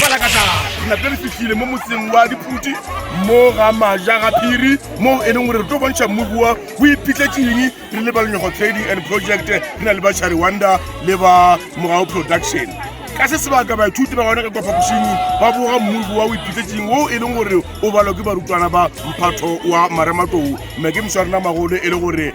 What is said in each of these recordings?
Palakata re nape re fihlile mo motseng wa diphuti mo ga maja ga phiri moo e leng gore re tlo bontšha mmubua o iphitletseng re le balenyogo trading and project re na le ba chariwanda le ba mogao production ka se sebaka baithuti ba gona ka kwa phapošing ba boga mmubua o iphitletseng o e leng gore o balwa ke barutwana ba mphatho wa marematou mme ke mša rena magolo e le gore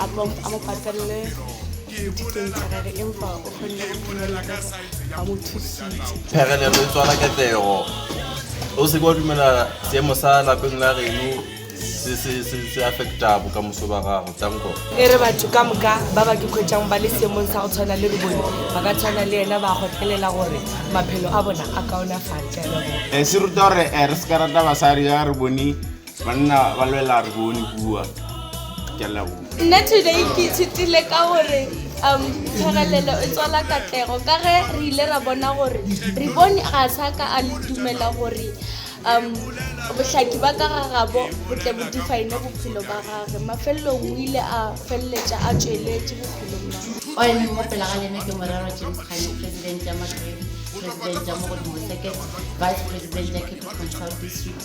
a mo patelele dithutong tsa gage empa o kgonne go phumelela ka se ba mo thusitse phegelelo e tswala ketlego o seke wa dumela seemo sa lapeng la geno se- se- se se affecta bokamoso ba gago tsanko e re batho ka moka ba ba ke kgwetšang ba le seemong sa go tshwana le re bone ba ka tshwana le ena ba gotlelela gore maphelo a bona a kaonafale ka leboga Eh, se ruta gore eh, re se ka rata basadi ya re bone Banna ba lwela re bone bua ke a leboga. Nna today ke ithutile ka gore um tshwarelelo e tswala katlego ka ge re ile ra bona gore re bone ga sa ka a le dumela gore um bohlaki ba ka ga gabo bo tle bo define bophelo ba gage mafelelong o ile a feleletša a tšweletše bophelong ba o emeng mo pela ga lena ke morero james kganye president ya magredi president ya mogodimo second vice president ya cape control district